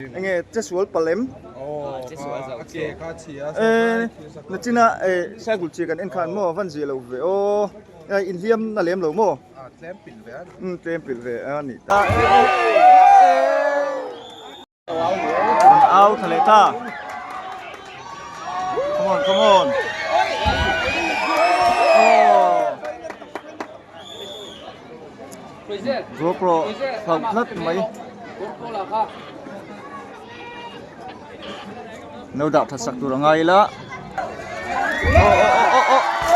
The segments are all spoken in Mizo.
Enge che sual palh em? Nachina cycle chi kan en khan maw? Van zia lo ve aw. Enge inhliam na lem lo maw? Tlem pilh ve a nih ta. Kan au thla leh ta. Come on, come on. Zawkrawh hlauh tlat mai. No dah thatsak tur a ngai ila.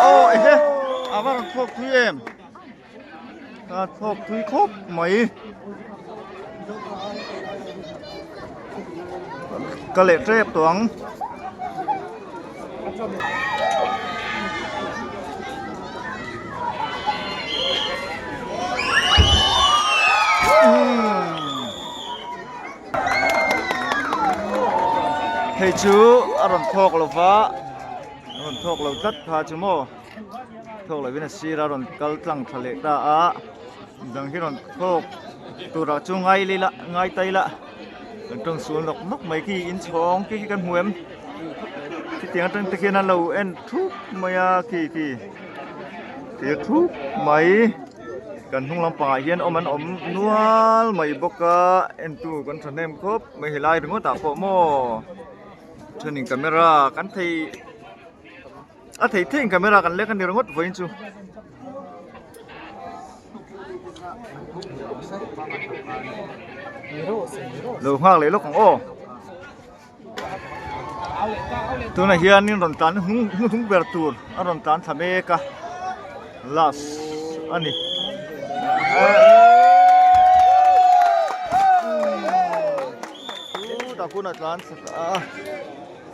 Oh ehe a var an thlawk thui em. A thlawk thui khawp mai. Ka leh trep tuang. hei chu a rawn thawk lo va a rawn thawk lo tlat pha chu maw thawk lovin a sira rawn kal tlang tha leh ta a bang hi rawn thawk turah chu ngai leh la ngai ta ila. kan tawng sual nawk nawk mai khi in chhawng khi khi kan hmu em khitiang atang te khian a lo en thup mai a khi khi thlir thup mai kan hnung lampang ah hian awm an awm nual mai bawk a en tu kan thahnem khawp mai helai ringawt ah pawh maw thenin camera kan thei-- a thei theihin camera kan lek a ni ringawt vawiin chu lo nghak leh lawk ang aw tunah hianin rawn tlan hung hung hung ber tur a rawn tlan thla mek a last a ni chu takuna tlan thla ta a.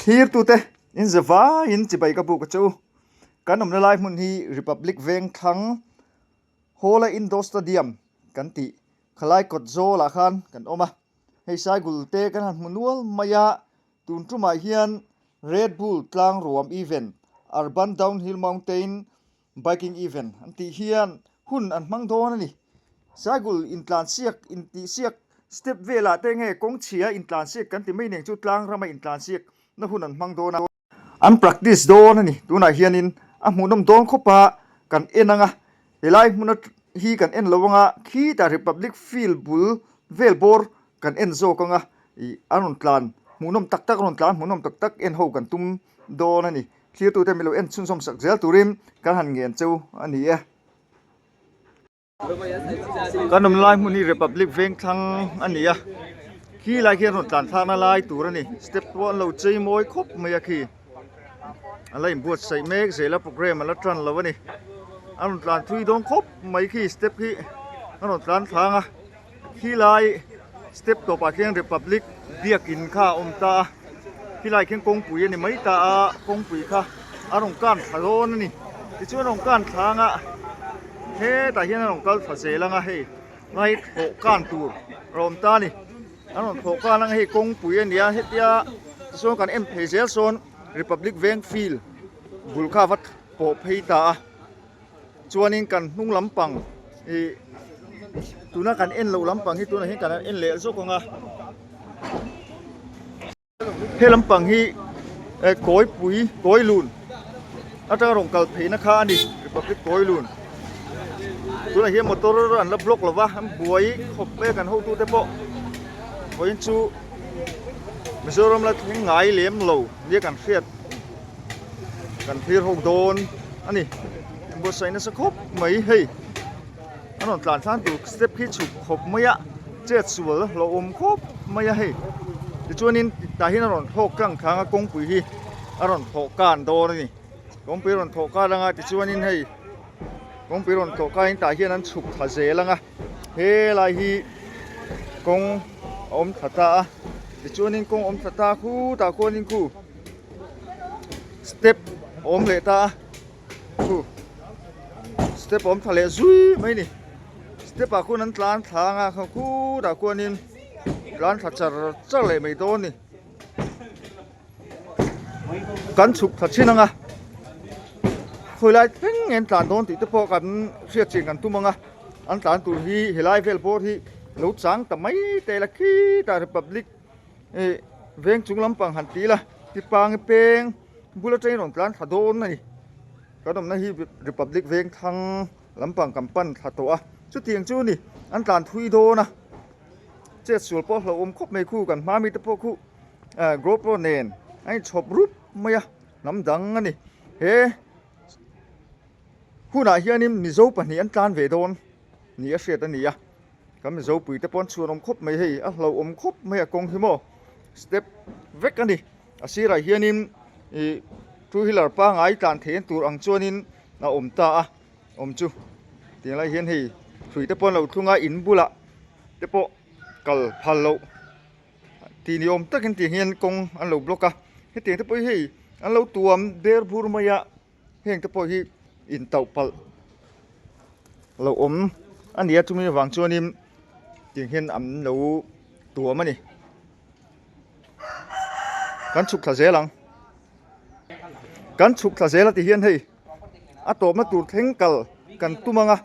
Thlir tu te, in ze vai in chibai ka buk a chu. Kan awmna lai hmun hi Republic Vengthlang Hawla Indoor Stadium kan tih kha lai kawt zawl ah khan kan awm a, hei saigul te kan han hmu nual mai a, tun tumah hian Red Bull Tlang Ruam Event, Urban Downhill Mountain, Biking event an tih hian hun an hmang dawn a ni. Cycle intlansiak, intihsiak, step velah te nge kawng chhia intlansiak kan ti mai ning chu tlang rama intlansiak na hun an hmang dawn a. An practice dawn a ni. Tunah hianin a hmuhnawm dawn khawpa kan en ang a. He lai hmun a hi kan en lo ang a, khitah Republic Field bul vel bawr kan en zawk ang a. Ih a rawn tlan hmuhnawm tak tak a rawn tlan hmuhnawm tak tak en ho kan tum dawn a ni. Thirtute mi lo en chhunzawm sak zel turin kan han ngen cheu a ni e. Kan awm lai hmun hi Republic Vengthlang a ni a, khi lai khi an rawn tlanthlakna lai tur a ni. Step pawh an lo chei mawi khawp mai a khi. A la inbuatsaih mek zel a, programme a la tan lo a ni. An rawn tlanthui dawn khawp mai khi step hi an rawn tlanthlâng a. Khilai step tawpah khian Republic biakin kha a awm ta a, khilai khian kawngpui a ni mai ta a, kawngpui kha a rawn kan thla dawn a ni. Tichuan a rawn kan thla anga hetah hian a rawn kal thla zel anga hei bike hlawh kan tur a awm ta a ni. A rawn hlawh kan anga hei kawngpui a ni a, hetia tichuan kan en phei zel sawn Republic veng field bul kha a va pawh phei ta a. chuanin kan hnung lampang ihh tuna kan en loh lampang hi tunah hian kan en leh zawk ang a he lampang hi eh kawipui kawilun atanga rawn kal pheihna kha a ni republic kawilun tunah hian motor an la block lova an buai khawp mai a kan hotu te pawh vawiin chu mizoram la thingai lem lo nia kan hriat. kan hlir ho dawn a ni buatsaih nasa khawp mai hei an rawn tlan thlang tur step khi chhuk khawp mai a chet sual a hlauh awm khawp mai a hei tichuanin tah hian a rawn thlawk tlang thlâng a kawngpui hi a rawn thlawh kân dawn a ni kawngpui a rawn thlawh kal anga tichuanin hei kawngpui a rawn thlawh kâin tah hian an chhuk thla zel ang a. He lai hi kawng a awm thla ta a, tichuanin kawng a awm thla ta khu tah khuanin khu step a awm leh ta a, khu step a awm thla leh zui mai a ni. Step ah khuan an tlan thla anga kha khutah khuanin tlan thla char char leh mai dawn a ni. kan chhuk thla thin anga khawilai thleng in tlan dawn tih te pawh kan hriat chin kan tum anga an tlan tur hi helai vel bawr hi lo chang ta mai ta ila khitah republic ih veng chung lampang han ti ila ti pangi peng bullet ain rawn tlan thla dawn a ni kan awmna hi republic vengthang lampang kan pan thla tawh a chuti ang chu a ni an tlan thui dawn a chet sual pawh a hlauhawm khawp mai khu kan hmami te pawh khu. ah GoPro nen a inchhawp rup mai a hnam dang a ni he hunah hianin Mizo pahnih an tlan ve dawn ni a hriat a ni a kan Mizo puite pawh an chhuan awm khawp mai hei a hlauhawm khawp mai a kawng hi maw step vek a ni a sirah hianin ih two wheeler pangai tlan theih en tur ang chuanin a awm ta a awm chu tiang lai hian hei hruite pawh an lo thlung a in bulah te pawh kal phal loh Tih ni awm takin tiang hian kawng an lo block a, hetiang te pawh hi hei an lo tuam ber bur mai a, heng te pawh hi in tauh palh lo awm a ni a, chumi avang chuanin tiang hian an lo tuam a ni, kan chhuk thla zel ang, kan chhuk thla zel a ti hian hei. a tlawmna tur thleng kal kan tum ang a,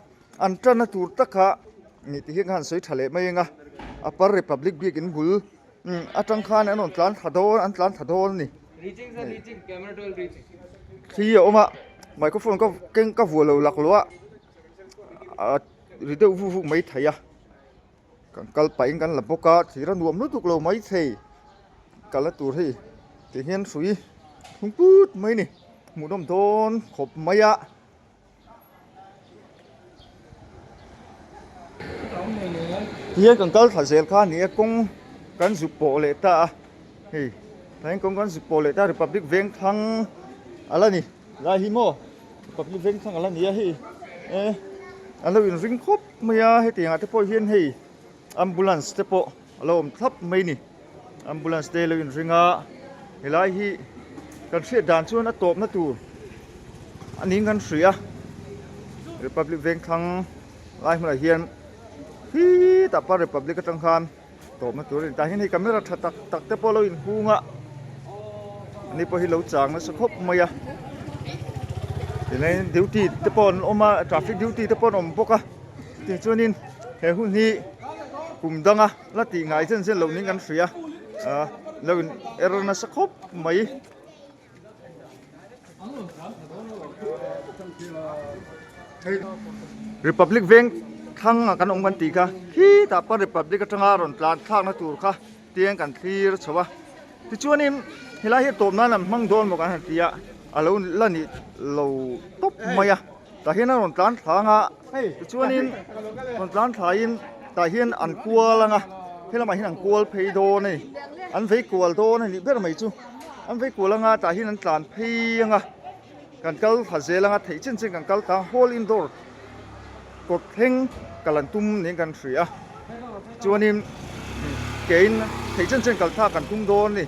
an tana tur tak kha mi ti hi khan an sawi tha leh mai ang a, a par Republic Bik in bul atang khan an rawn tlan tha dawn an tlan tha dawn a ni, thli a awm a microphone ka keng ka vuah lo lak loh a, a ri deuh vuk vuk mai theih a. Kan kal pahin kan la bawk a, thir a nuam lutuk lo mai thei. Kal a tur hi kei hian hrui thung put mai a ni. Hmuhnawm dawn khawp mai a. Ti hian kan kal thla zel kha a ni a, kawng kan zuk pawh leh ta a. Hei tlaiin kawng kan zuk pawh leh ta a, Republic Vengthlang a la ni. Lai hi maw Republic Vengthlang a la ni a hei. Ehh an lo inring khawp. Hmai a hetiang ah te pawh hian hei ambulance te pawh a lo awm thlap mai ni ambulance te lo in ring a helai hi kan hriat dan chuan a tawp na tur a ning kan hria a republic vengthlang lai hmun ah hian khi tah pal republic atang khan-- Tawpna tur a ni ta hian hei camera tha tak tak te pawh lo in hung a ni pawh hi lo chang nasa khawp mai a tilai duty te pawh an awm a traffic duty te pawh an awm bawk a tin chuan in he hun hi kum dang a la tih ngai zen zen lo ning kan hria lo in er nasa khawp mai. Republic veng thlang ah kan awm kan tih kha khitah pawh Republic atanga rawn tlan thlakna tur kha tiang kan thlir chho a tichuanin helai hi tawp nan an hmang dawn maw kan han ti a a lo la nih lo tawp mai a. Tah hian a rawn tlan thlang a tichuanin rawn tlan thlaiin tah hian an kual ang a helamah hian an kual phei dawn a ni an vei kual dawn a nih ber mai chu an vei kual anga tah hian an tlan phei anga kan kal hla zel anga theih chin chin kan kal ta a hall indoor kawt thleng ka lan tum niin kan hria a tichuanin keiin theih chin chin kalthlak kan tum dawn a ni.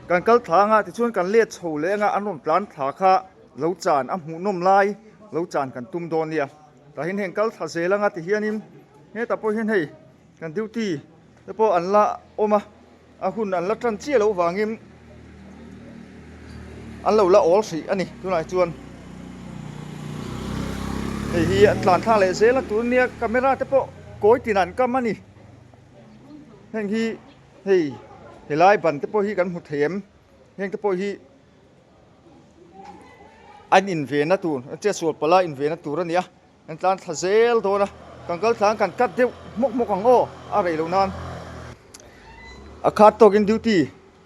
Kan kal thla anga tichuan kan let chho leh anga an rawn tlan thla kha lo chan a hmuh nawm lai lo chan kan tum dawn nia tah hian heng kal thla zel anga ti hianin hetah pawh hian hei kan duty te pawh an la awm a a hun an la tan chiah loh vangin an lo la awl hrih a ni tunah hi chuan hei hi an tlan thla leh zel a tur nia camera te pawh kawi tinah an kam a ni heng hi-- Hei helai ban te pawh hi kan hmu thei em? Heng te pawh hi an invena tur, an che sual palh a invena tur a ni a, kan tlan thla zel dawn a, kan kal tlan kan cut deuh hmawk hmawk ang aw a rei loh nan a khat tawk in duty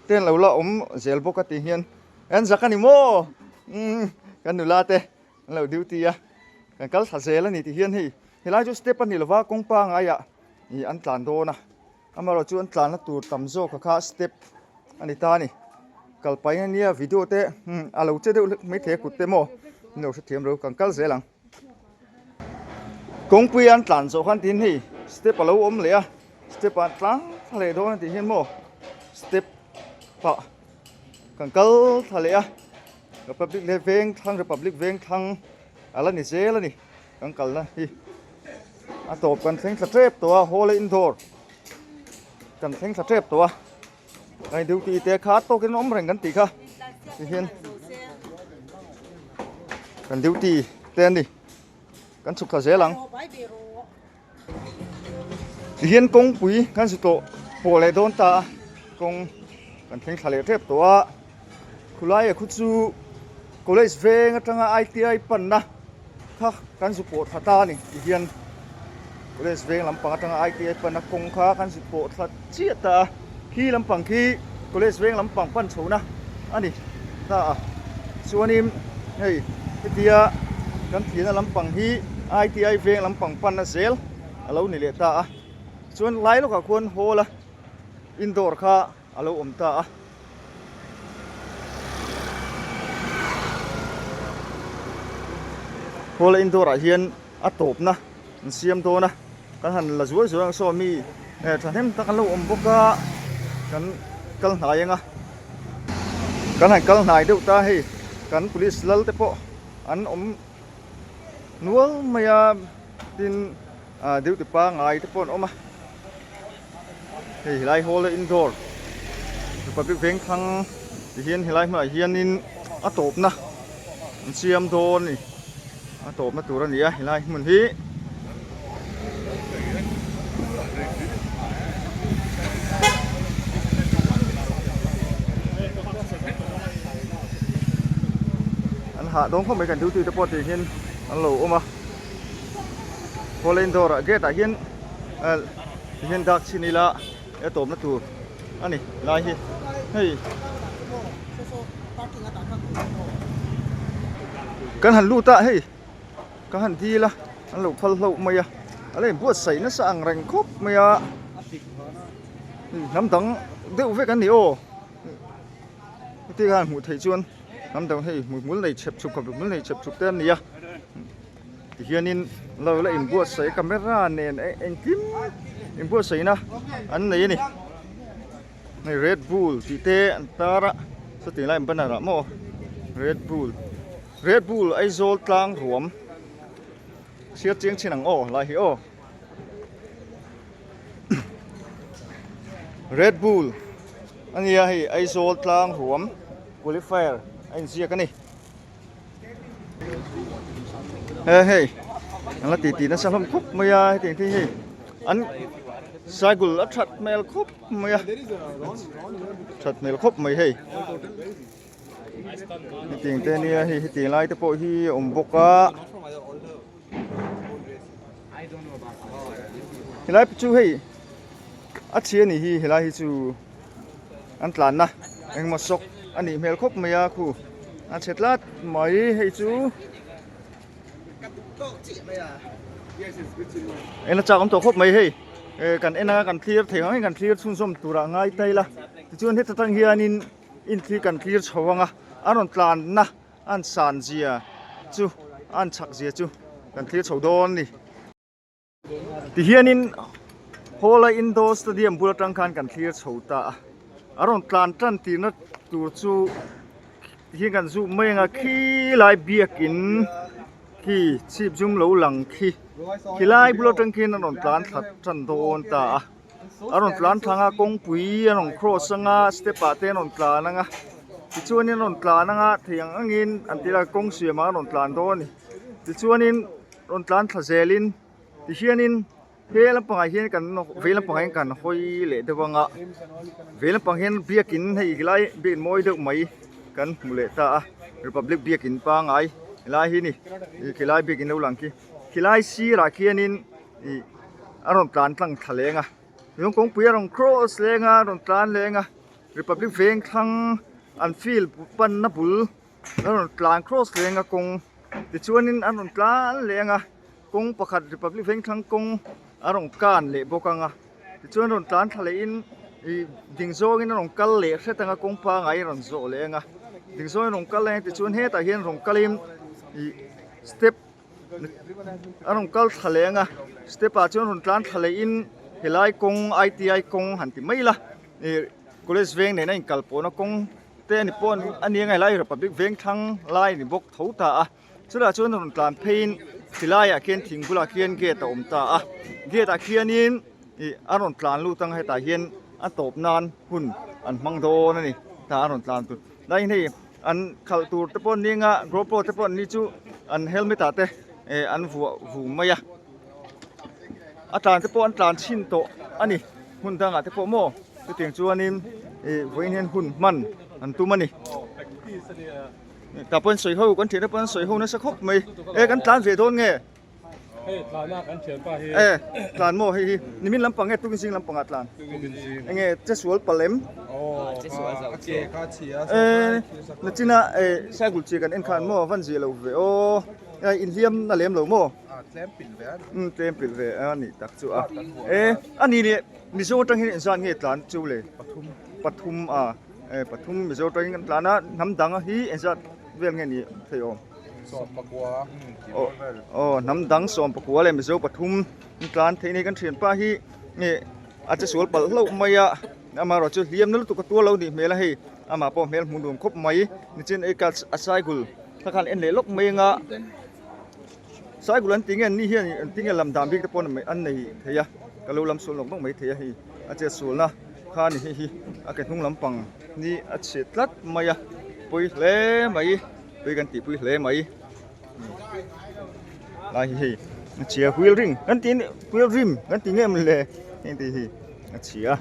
te an lo la awm zel bawk a tih hian an zak a ni maw umm kan nula te an lo duty a kan kal thla zel a ni tih hian hei helai chu step a ni lo va kawngpa ngai ah ih an tlan dawn a. Amaherawhchu chuan tlanna tur tam zawka kha step a ni ta a ni. Kal paina nia video te umm a lo che deuh hlek mai thei a kut te maw ni lo hre thiam lo kan kal zel ang. Kawngpui an tlan zawh khan tin hei step a lo awm leh a step ah tlang thla leh dawn a tih hian maw step pah kan kal thla leh a republic leh vengthlang republic vengthlang a la ni zel a ni. Kan kalna hi a tawp kan thleng thla tep tawh a hawla indoor kan thleng thla tep tawh a hei duty te khat pawh kan awm reng kan tih kha tihian kan duty te a ni kan chhuk thla zel ang. Tihian kawngpui kan zi tlawh pawh leh dawn ta a, kawng kan thleng thla leh tep tawh a, khulaiah khu chu college veng atanga ITI panna kha kan zu pawh thla ta a ni, tihian college veng lampang atanga ITI panna kawng kha kan zi pawh thla chiah ta a. Khi lampang khi college veng lampang pan chhona a ni ta a, chuanin hei hetia kan thiana lampang hi ITI veng lampang panna zel a lo ni leh ta a, chuan hlai lawkah khuan hall-a indoor kha a lo awm ta a. Hall-a indoor-ah hian a tawpna. An siam dawn a, kan han la zual zual ang saw mi eh thahnem tak an lo awm bawk a, kan kal hnai ang a, kan han kal hnai deuh ta hei kan police lal te pawh an awm nual mai a, tin duty pangai te pawh an awm a. Hei helai hall a indoor Republic vengthlang ti hian helai hmunah hianin a tawpna an siam dawn a ni a tawpna tur a ni a helai hmun hi an hah dawn khawp mai kan duty te pawh ti hian an lo awm a hall a indoor ah gate ah hian ah-- Hei hian dak chhin ila e tawpna tur a ni lai hi hei kan han lut a hei ka han dil a an lo phal hlauh mai a a la in buatsaih nasa ang reng khawp mai a hnam dang deuh vek an ni aw hetiang a hmuh theih chuan hnam dang hei hmuihmul nei chhep chhup ka hmuihmul nei chhep chhup te an ni a. Tihianin lo la inbuatsaih a camera nen a engkim inbuatsaihna an nei a ni hei red bull tih te an tar a chutih laiin banner ah maw red bull red bull aizawl tlang ruam hriat chiang thin ang aw lai hi aw red bull a nia hei aizawl tlang ruam qualifier a inziak a ni. he hei an la titi nasa hlawm khawp mai a heti ang hian an cycle a that hmel khawp mai a that hmel khawp mai hei heti ang te nia hei heti ang lai te pawh hi a awm bawk a helai chu hei a chhia ni hi helai hi chu. an tlanna engemaw shock a nih hmel khawp mai a khu a chhe tlat mai hei chu en achak awm tawh khawp mai hei kan en anga kan clear thei ang in kan clear chhunzawm turah a ngai ta ila tichuan heta tang hianin in khi kan clear chho ang a an rawn tlanna a an san zia chu a an chhak zia chu kan clear chho dawn a ni. Tihianin Hawla Indoor Stadium bul atang khan kan thlir chho ta a, a rawn tlan tan tirna tur chu tihian kan zûm mai anga khi lai biakin khi chhipzum lo lang khi khilai bul atang khin a rawn tlan thlat tan dawn ta a. an rawn tlan thlang a kawngpui an rawn kraws ang a step ah te an rawn tlan ang a tichuan in an rawn tlan ang a thei ang ang in an tih lai kawng siam ah an rawn tlan dawn a ni tichuan in rawn tlan thla zel in ti hian in he lampang ah hian kan vei lampang ah hian kan hawi leh deuh ang a vei lampang ah hian biak in hei helai biak in mawi deuh mai kan hmuh leh ta a republic biak in pangngai helai hi a ni helai biak in lo lang khi helai sir ah khian in-- ih a rawn tlan tlang thla leng a lung kawngpui a rawn kraws leng a a rawn tlan leng a Republic vengthlang an field panna bul a rawn tlan kraws leng a kawng tichuanin a rawn tlan leng a kawng pakhat Republic vengthlang kawng a rawn kan leh bawk ang a tichuan a rawn tlan thla leh in ih ding zawngin a rawn kal leh hret ang a kawng pangai a rawn zawh leh ang a ding zawngin a rawn kal a tichuan hetah hian rawn kalin ih step -- a rawn kal thla leh ang a step ah chuan rawn tlan thla leh in helai kawng iti kawng han ti mai ila ih college veng nena in kal pawhna kawng te a ni pawh a ni anga helai republic veng thlang lai a ni bawk tho ta a chutah chuan a rawn tlan phei in ti lai ah khian thing bulah khian gate a awm ta a gate ah khian in ih a rawn tlan lut ang hetah hian a tawp nan hun an hmang dawn a ni ta a rawn tlan tur-- Nai hni an khalh tur te pawh ning a GoPro te pawh ni chu an helmet ah te eh an vuah vu mai a a tlan te pawh an tlan chhin tawh a ni hun dang ah te pawh maw chutiang chuan in eh vawiin hian hun hman an tum a ni tah pawh in sawi ho kan thiahna pawh an sawi ho nasa khawp mai eh kan tlan ve dawn nge. Hei tlanah kan thian pa hi. Eh, tlan maw hei hi. Nimin lampang nge tukin zing lampangah tlan? Tukin zing. Enge chesual palem. Oh, chesual zau. Ke kha chhia. Eh, nachina eh cycle chhia kan en khan maw van zia lo ve. Oh, hei inhliam na lem lo maw? Ah, tlem pilh ve a ni. Umm, tlem pilh ve a nih tak chu a. Eh, a ni leh Mizo atang hian inzan nge tlan chu le? Pathum. Pathum a. Eh, pathum Mizo atangin kan tlan a. Hnam dang a hi inzan vel nge ni theih awm. Aw hnam dang sawmpakua leh mizo pathum an tlan theih a ni a, kan thianpa hi nge a che sual palh hlauh mai a, amaherawhchu chu hliam na lutuk a tuar lo a nih hmel a hei, amah pawh hmel hmun nuam khawp mai, nichin a ikal a cycle kha khan a en leh lawk mai anga, cycle an tih nge an ni hian an ti nge lam dan bik te pawh an nei thei a, ka lo lam sual nawk nawk mai thei a hei, a chet sualna kha a ni hei hi a ke hnung lampang hi a chhe tlat mai a pawi hle mai. Tui kan tihpui hle mai lai hi hei a chhia huil ring kan tih huil rim kan tih ngei mawni le heng tih hi a chhia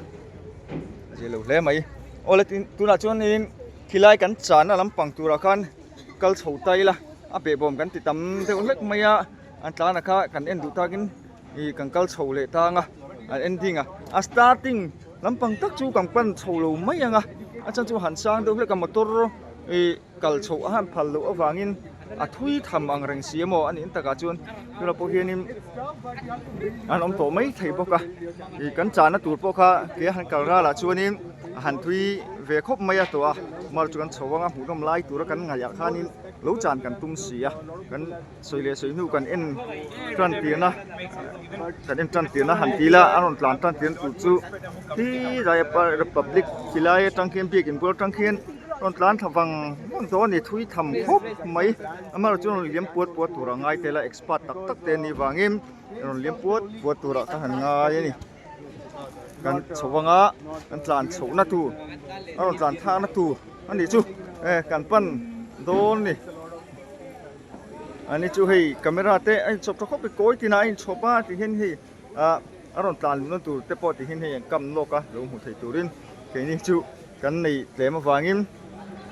a chhia lo hle mai aw le tin tunah chuanin khilai kan chahna lampang turah khan kal chho ta ila a beh bawm kan ti tam deuh hlek mai a an tlana kha kan en duh takin ih kan kal chho leh tang a an en ding a a starting lampang tak chu kan pan chho lo mai ang a a chhan chu han sang deuh hlek a motor ih-- Kal chhoh a han phal loh avangin a thui tham ang reng si emaw a nih ang takah chuan tunah pawh hianin an awm tawh mai thei bawk a, ih kan chahna tur pawh kha kei a han kal ralrah chuanin a han thui ve khawp mai a tawh a, amarawhchu kan chho anga hmuhnawm lai tura kan ngaihah khanin lo chan kan tum si a kan. sawi leh sawi hnu kan en tan tirna kan en tan tirna han ti la a rawn tlan tan tir na tur chu khi lai a par republic khi lai atang khian biak in bual atang khian a rawn tlan thla vang vang tawh a ni thui tham khawp mai amaherawhchu chu a rawn liam puat puat tur a ngai tel a expert tak tak te an nih vangin a rawn liam puat puat tur a kha han ngai a ni. kan chho anga kan tlan chhohna tur a rawn tlan thakna tur a nih chu eh kan pan dawn a ni ani chu hei camera te a in chhawp tha khawp mai kawi tinah a in chhawp a tih hian hei ah a rawn tlan dawn tur te pawh tih hian hei an kam lawk a lo hmuh theih turin keini chu kan nei tlem avangin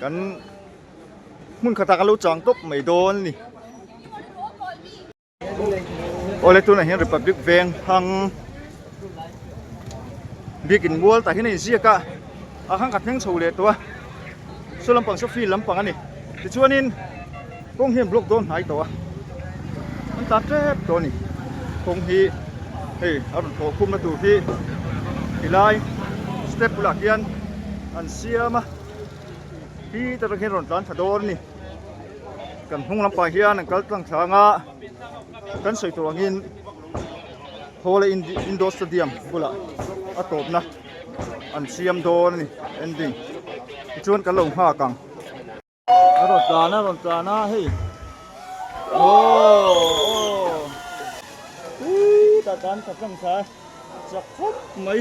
kan hmun khatah kan lo chang tawp mai dawn a ni. Aw le tunah hian Republic veng hang biakin mual tah hian a inziak a, a hang khat hmeng chho leh tawh a, saw lampang saw field lampang a ni. Tichuanin kawng hian block dawn hnai tawh a, an tlan tep tawh a ni. Kawng hi hei a rawn thaw khumna tur hi tilai step bulah khian an siam a, hite rawng hian a rawn tlan tha dawn a ni. Kan hnung lampang hian an kal tlang thlang a, kan sawi tur angin Hawla Indoor Stadium bulah a tawpna an siam dawn a ni ending tichuan kan lo nghak ang. A rawn tlan a, a rawn tlan a hei aww aww ui tah tan ka tlang thla a chak khawp mai.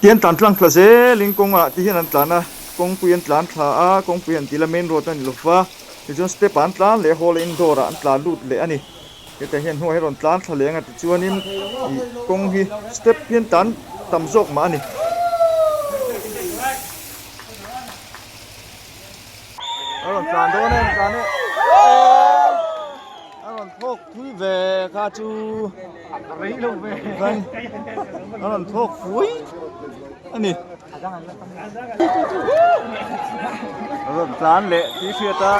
Tian tlan tlang thla zelin kawngah te hian an tlan a, kawngpui an tlan thla a, kawngpui han tih la main road a ni lo va, tichuan step ah an tlan leh a hall a indoor ah an tla lut leh a ni, hetiang hian hnuaia hi a rawn tlan thla leh ang a tichuanin ih kawng hi step hian tlan tam zawk mah a ni. a rawn tlan dawn em tlan em a rawn thlawk pui ve kha chu a rawn thlawk pui a ni a rawn tlan leh tih hriat a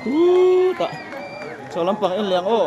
chu ta chho lampang en liang aw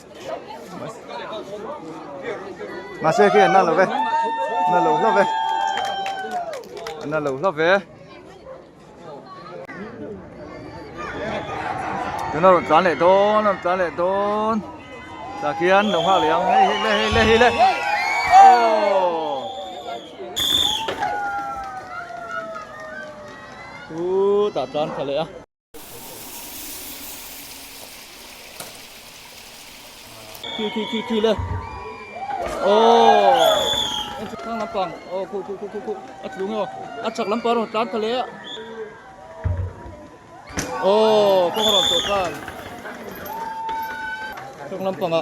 mahse khi an na lo ve na lo hlauh ve an na lo hlauh ve tuna rawn tlan leh dawn rawn tlan leh dawn tah khian lo nghak leh ang hei hi le hei le hei le oh chu tah tlan tha leh a Tui tui tui tui le. Oh. Em chu khang lampang. Oh ku ku ku ku ku. A tlu ngo. A chak lampang ro tlan ka le. Oh, kong ro to kan. Khang lampang a.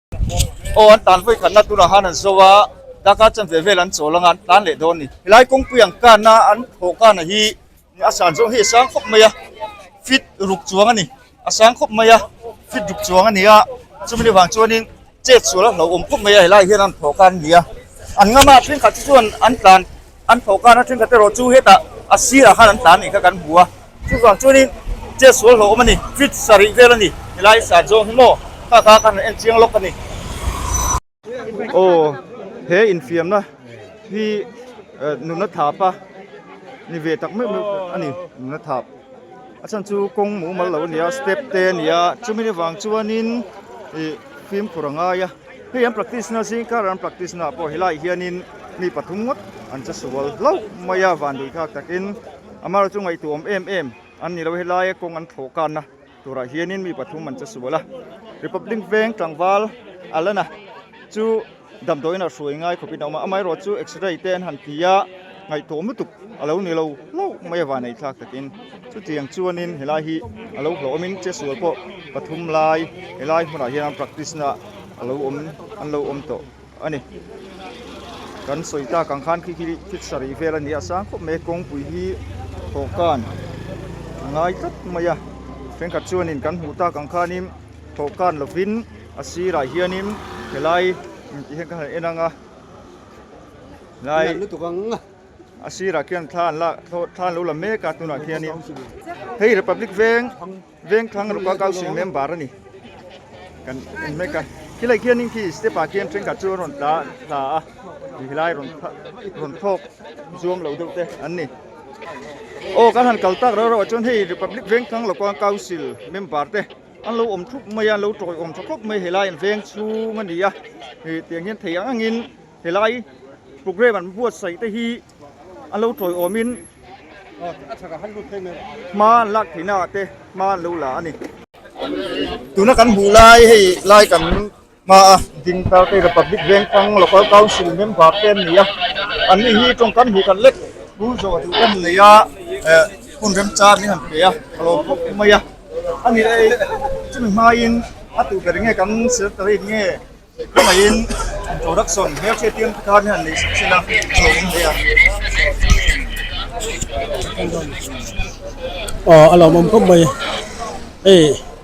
Aw, an tan vawikhatna tuna han an zo a, darkar chuan ve vel an chawl anga an tlan leh dawn ni. Helai kawngpui ang kanna an thawh kana hi a san zawng hi a sang khawp mai a, fit ruk chuang a ni, a sang khawp mai a, fit ruk chuang a ni a, chumina vang chuanin chet sual a hlauhawm khawp mai a, helai hian an thawh kan a ni a, an ngam a, thenkhat te chuan an tlan An thawhkana thenkhat erawh chu hetah a sirah khan an tla anih kha kan hmu a, chuvang chuanin chet sual hlauh awm a ni, fridge sa rih vel a ni, helai sa zawng hi maw kha kha ka han en chiang lawk a ni. Aw, he infiamna hi nunathlapa ni ve tak meuh meuh a ni, nunathlap. A chhan chu kawng mumal lo a ni a step te a ni a chumi ni vang chuanin ih fimkhur a ngai a hei an practice na zing kar an practice na pawh helai hianin mi pathum ngawt an che sual hlauh mai a van lui khak takin amar chu ngaihtuam em em an ni lo a helaia kawng an thlawh kanna turah hianin mi pathum an che sual a republic veng tlangval Alana chu Damdawiin a hruai ngai khawpin a awm a, amah erawh chu x-ray te an han ti a, ngaihtuah lutuk a lo ni lo hlauh mai a vanei thlak takin. Chutiang chuanin helai hi a lo hlauhawmin Chesual pawh pathum lai helai hmunah hian an practice na a lo awm an lo awm tawh a ni. Kan sawi tak ang khan khi hi thil sarih vel a ni a, sang khawp mai a, kawngpui hi thawhkan a ngai tlat mai a, thenkhat chuanin kan hmuh tak ang khanin thawhkan lovin. A sirah hianin helai intih hian ka han en ang a, helai a sirah khian thla an lak thla an lo la mek a tunah khianin hei Republic veng Vengthlang Ruka Council member a ni kan en mek a, khilaiah khianin khi step ah khian thenkhat chu an rawn tla tla a, ih helai rawn rawn thlawk zuam lo deuh te an ni. Aw kan han kal tak reuh reuh ah chuan hei Republic Vengthlang Ruka Council member te, An lo awm thup mai a, an lo tawiawm tha khawp mai helai an veng chhung a ni a, hetiang hian thei ang angin helai programme an buatsaih te hi an lo tawiawmin hma an lak theihnaah te hma an lo la a ni. Tuna kan hmuh lai hei lai kan Hmaa, ding tlar te hi Republic Vengfang Local Council member te an ni a, an nih hi tawng kan hmuh khat lek pur zawh duh kan nei a, eh, hun remcha an ni han pe a, a lawm khawp mai a, a ni e, chumi hmain a tuhber nge kan secretary nge khawmaihin introduction hmel che tirna te khan hi han nei sak chin a, a lo awm ve ang. Aw, a lo awm khawp mai, hei.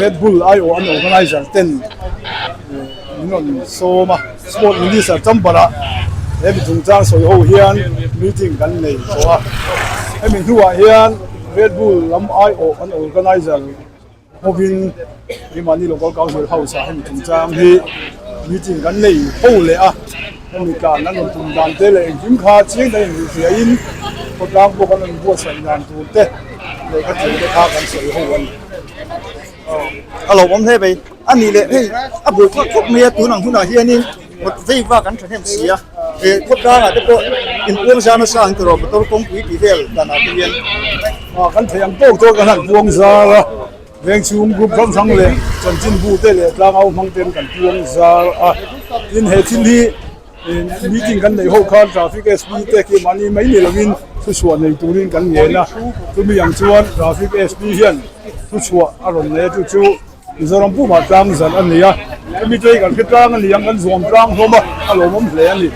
Red Bull ai awh an organizer ten min rawn sawm a, Sport Minister Chambarah he mi chungchang sawi ho hian meeting kan nei tawh a, hemi hnuah hian Red Bull lam ai awh an organizer hovin Myanmar Local Council House ah hemi chungchang hi meeting kan nei ho leh a, hemi tlan an rawn tum dan te leh engkim kha chiang dangin ruhfiahin khawtlang pawh kan rawn buatsaih dan tur te lehkha tel te kha kan sawi ho a ni. a lo awm hle mai a nih leh hei a bul thawt thawt mai a tun ang hunah hianin kawt vei vak an thahnem si a eh khawtlangah te pawh inbuang zar nasa ang tawrh a motor kawngpui tih vel danah te hian ah kan theih ang tawk tawk a han buang zar a vengchhung group hrang hrang leh chanchinbu te leh tlangau hmang ten kan buang zar a tin he thil hi Meeting kan neih ho khan Traffic SB te khi mahni mai ni lovin thuchhuah nei turin kan ngen a. Chumi ang chuan Traffic SB hian thuchhuah a rawn nei atu chu Mizoram pumah tlang zan a ni a. Chumi chu hei kan hre tlang a ni ang, kan zuam tlang hlawm a, a lawmawm hle a ni.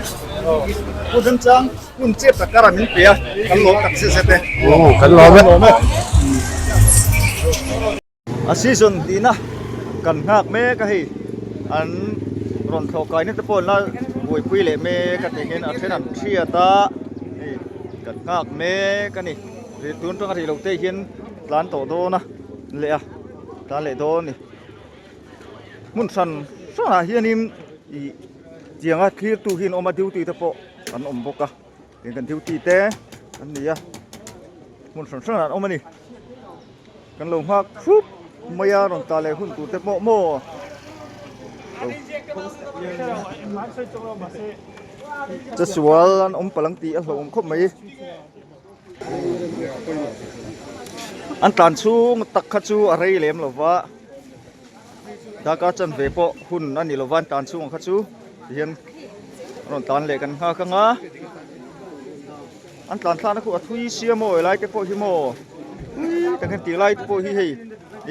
Pu Hlim Chang, Hun che tak kara min pe a, kan lawm tak zet zet e. Kan lawm e. A season tihna kan nghak mek a hei, an rawn thlawh kaina te pawh la buaipui leh mek a nih hian a then an hriat a hei kan nghak mek a ni, tun tanga rih lote hian tlan tawh dawn a ni leh a, tlan leh dawn a ni, hmun hran hran ah hianin ih tianga thlir tu hi an awm a duty te pawh an awm bawk a. Hei kan duty te an ni a hmun hran hran ah an awm a ni kan lo nghak thup mai a rawn ta leh hun tur te pawh maw Chasual an awm palang tih a hlawhawm khawp mai an tlan chhung tak kha chu a rei lem lova. Daka chan ve pawh hun a ni lo va, tan chhungah kha chu ti hian an rawn tan leh kan nghak ang a, an tlan thlana khu a thui sia maw elai te pawh hi maw tui tak hian tih lai te pawh hi hei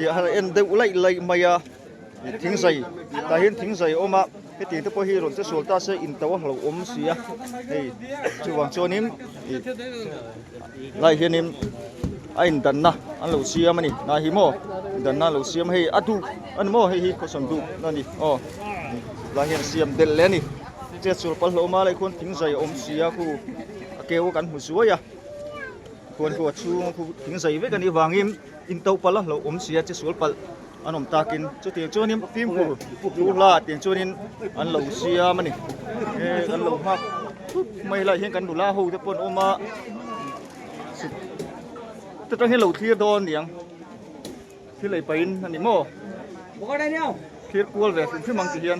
a han en deuh laih laih mai a, thingzai tah hian thingzai a awm a. Heti te pawh hi rawn che sual ta se in to a hlo awm si a hei chuvang chuan in lai hian in a in dan na an lo siam a ni na hi maw in dan na lo siam hei a duk a ni maw hei hi khawsan duk na ni aw lai hian siam del le ni che sual pal hlo ma lai khuan thing zai awm si a khu a keu kan hmu zuai a khuan khu a chhung khu thing zai vek a nih vang in Intoh palh a hlauh awm sia che sual palh an awm takin chutiang chuanin fimkhur thu hla tiang chuanin an lo siam a ni. E kan lo nghak thup mai lai hian kan nula ho te pawh an awm a. Chu tang hian lo thlir dawn niang thil ei pahin a ni maw? Thlir kual ve fim fim ang ti hian.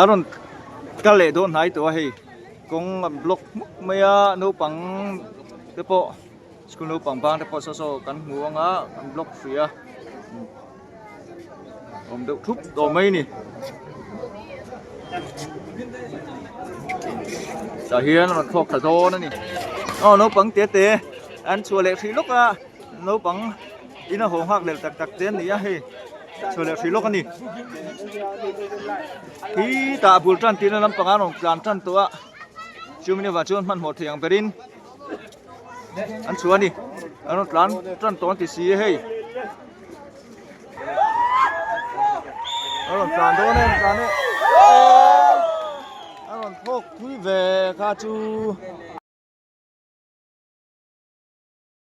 A rawn kal leh dawn hnai tawh a hei kawng a block hmuk mai a naupang te pawh school naupang bang te pawh saw saw kan hmu ang a an block hrui a awm deuh thup tawh mai a ni tah hian a rawn thlawk ta dawn a ni aw naupang tete an chhuah leh hrih lawk a. Naupang in a haw nghak lel tak tak te an ni a hei chho leh hrih lawk a ni khi tah a bul tan tihna lampang an rawn tlan tan tawh a chu min avang chuan hmanhmawh thei ang ber in an chho a ni an rawn tlan tan tawh ang ti si a hei an rawn tlan dawn em tlan e an rawn phawk pui ve kha chu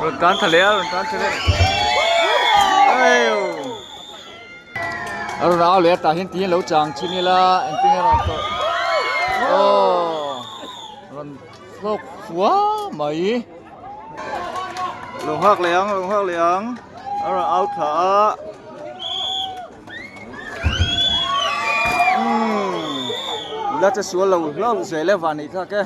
Rawn tan tha leh a, rawn tan tha leh. A rawn au leh a, tah hian tiin lo chang chin ila eng tin a rawn tawh. Oh! Rawn hlawk fua mai. Rawn nghak leh ang, rawn nghak leh ang. A rawn au thla a. Umm! Ila che sual lo hlauh zeh le vani tak e.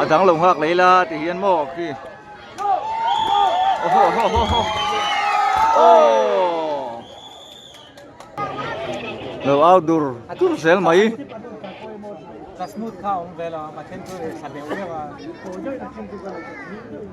A dang lo nghak lei la ti hian maw khi. Oho oho oho oho. Oh. Lo au dur dur zel mai. Ka smooth kha awm ve lo a, ma then chu tha deuh deuh a.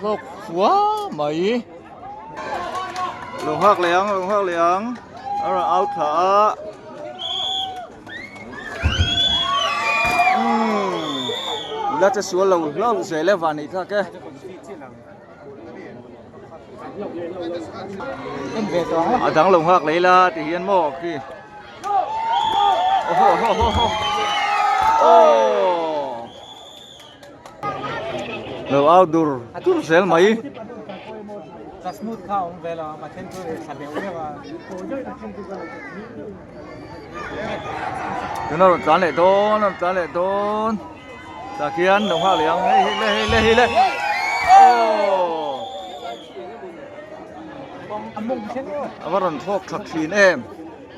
Hlawk fua mai. Lo nghak leh ang, lo nghak leh ang. A rawn out thla a. Umm. Ila che sual lo hlauh zel e vani thlak e. A dang lo nghak leh ila ti hian maw khi. Oho oho oho. Aww. lo au dur dur zel mai. Tuna rawn tlan leh dawn a rawn tlan leh dawn tah khian lo nghak leh ang hei hi le hei le hei le aww a va rawn thlawk thlak thin em.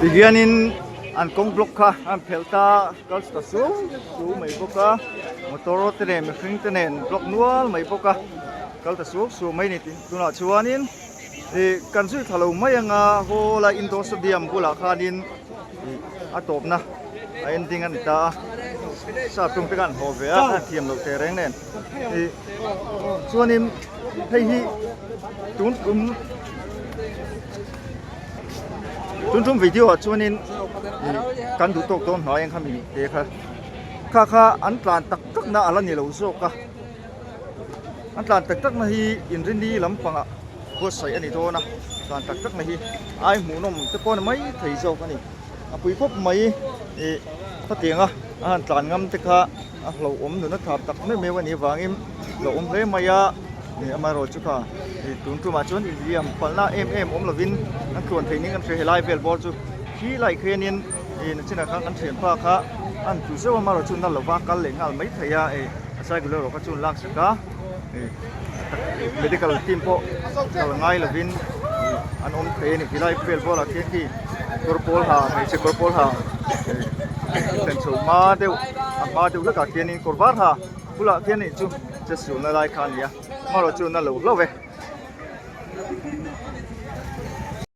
Tihian in an kawng block kha an phelh ta kal chhuah suau suau mai bawk a motor te nen mihring te nen block nual mai bawk a kal ta suau suau mai ni tih tunah chuan in ih kan zui thla lo mai ang a haw lai indoor stadium bulah khan in ih a tawp na a en ding a ni ta a sa tum te kha an haw ve a an thiam lo thei reng nen ih chuan in hei hi tun kum Tum tum video ah chuan in kan duh tawk dawn hna engkha mi te kha kha kha an tlan tak tak na ala ni lo zawk a an tlan tak tak na hi in rini lam pang ah buatsaih ani dawn a tlan tak tak na hi ai hmuh nawm te pawh mai thei zawk ani a pui khawp mai i khatianga a han tlan ngam te kha a hlauhawm nuna thlap tak meuh meuh a nih avangin hlauhawm hle mai a ih amaherawhchu chu kha ih tun tumah chuan infiam palna em em awm lovin an tluan thei ning an hre helai vel bawr chu khi laih khianin ih chinah khan an thian bak a a han tlu zeuh a amaherawhchu nalova kal leh nghal mai theih a ih a cycle erawh kha chu an laksak a. medical team pawh kal ngai lovin an awm thei a ni tilai vel bulah khian khi kawr pawl ha hmeichhe kawr pawl ha thlen chho hma deuh a hma deuh hlekah khianin kawr var ha bulah khian ni chu test sulna lai kha a ni a amaherawhchu na lo hlo e.